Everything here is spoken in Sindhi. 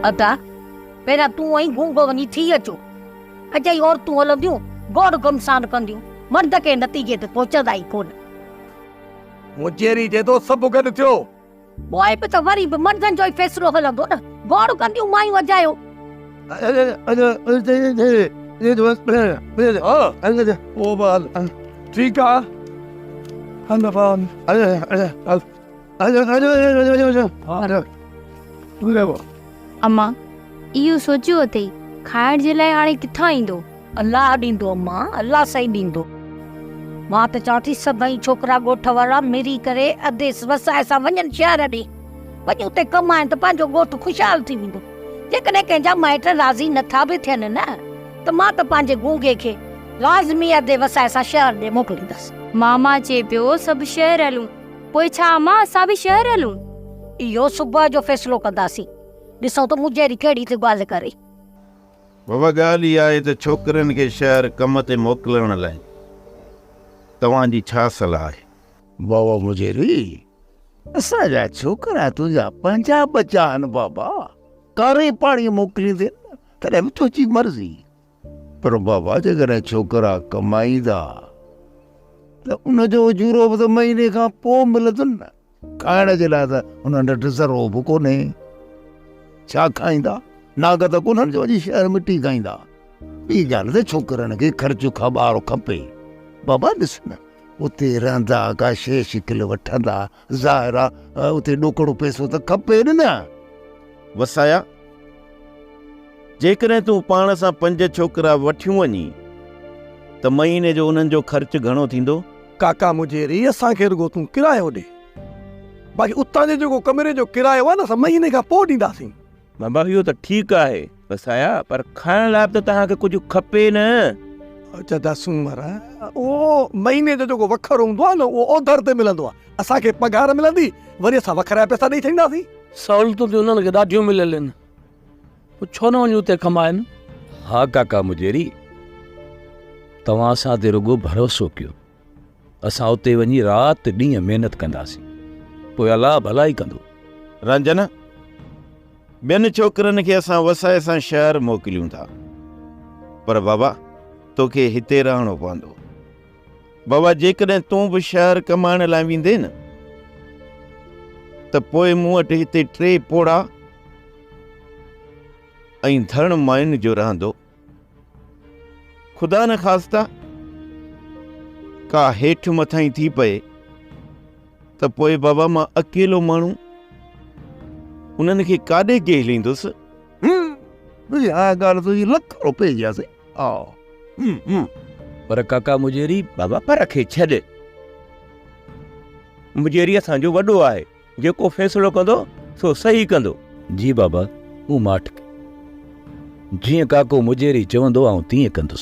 ادا پهريان تون ۽ گونگو وڃي ٿي اچو اجائي عورتون هلنديون گوڙ گمسان ڪنديون مرد ڪنهن نتيجي تي پهچندا ئي ڪونه مونجهيري چي ٿو سڀ گڏ ٿيو پوء به ته وري به مردن جو ئي فيصلو هلندو نه گوڙ ڪنديون مايون اجايو ٺيڪ آ امان، اهو سوچيو اٿئي، کائڻ جي لاء هاڻي ڪٿان ايندو؟ الله ڏيندو امان، الله سائين ڏيندو. مان ته چوان ٿي سڀئي ڇوڪرا ڳوٺ وارا ملي ڪري اديس وسائي سان وڃن شهر ڏي. وڃي اتي ڪمائن ته پنهنجو ڳوٺ خوشحال ٿي ويندو. جيڪڏهن ڪنهن جا مائٽ راضي نه ٿا به ٿين نه ته مان ته پنهنجي گونگي کي لازمي ادي وسائي سان شهر ڏي موڪليندس. ماما چئي پيو سڀ شهر هلون. پوء ڇا امان اسان به شهر هلون؟ اهو صبح جو فيصلو ڪنداسين. ڏسون ته مونجهيري ڪهڙي ٿي ڳالهه ڪري. بابا ڳالهه اها آهي ته ڇوڪرين کي شهر ڪم تي موڪلڻ لاء توهان جي ڇا صلاح آهي؟ بابا مونجهيري اسان جا ڇوڪرا تنهنجا پنهنجا ٻچا آهن بابا. ڪاري پاڻي موڪليندين تڏهن به تنهنجي مرضي. پر بابا جيڪڏهن ڇوڪرا ڪمائيندا ته ان جو اجورو به ته مهيني کان پوء ملندن نه کائڻ جي لاء ته انهن وٽ ذرو به ڪونهي ڇا کائيندا ناگ ته ڪونهن جو اڄ شهر ۾ ٽي کائيندا ٻي ڳالهه ته ڇوڪرن کي خرچ کان ٻاهر کپي بابا ڏس نه اتي رهندا ڪا شي شڪل وٺندا ظاهر آ اتي ڏوڪڙو پئسو ته کپي نه. وسايا! جيڪڏهن تون پاڻ سان پنج ڇوڪرا وٺيون وڃين ته مهيني جو انهن جو خرچ گهڻو ٿيندو؟ ڪاڪا مجيري! اسان کي رڳو تون ڪرايو ڏي، باقي اتان جو جيڪو ڪمري جو ڪرايو آ نه، سا مهيني کان پوء ڏينداسين. بابا اهو ته ٺيڪ آهي وسايا پر کائڻ لاء ته توهان کي ڪجهه کپي نه. اچا دا سومر اهو مهيني جو جيڪو وکر هوندو آهي نه اهو اوڌر تي ملندو آهي. اسان کي پگهار ملندي وري اسان وکر جا پئسا ڏئي ڇڏينداسين. سهولتون ته انهن کي ڏاڍيون مليل آهن پوء ڇو نه وڃي اتي ڪمائن. ها ڪاڪا مجيري توهان اسان تي رڳو ڀروسو ڪيو. اسان اتي وڃي رات ڏينهن محنت ڪنداسين پوء الله ڀلائي ڪندو رنجن ٻين ڇوڪرن کي اسان وسائي سان شهر موڪليون ٿا پر بابا توکي هتي رهڻو پوندو بابا جيڪڏهن تون به شهر ڪمائڻ لاء ويندين نه ته پوء مون وٽ هتي ٽي پوڙا ۽ ڌڻ مائن جو رهندو خدا نخواسته ڪا هيٺ مٿائين ٿي پئي ته پوء بابا مان اڪيلو ماڻهو انهن کي ڪاڏي جهليندس پر ڪاڪا مجيري بابا پر کي ڇڏ مجيري اسان جو وڏو آهي جيڪو فيصلو ڪندو سو صحيح ڪندو. جي بابا مون ماٺ ڪئي. جيئن ڪاڪو مجيري چوندو آئون تيئن ڪندس.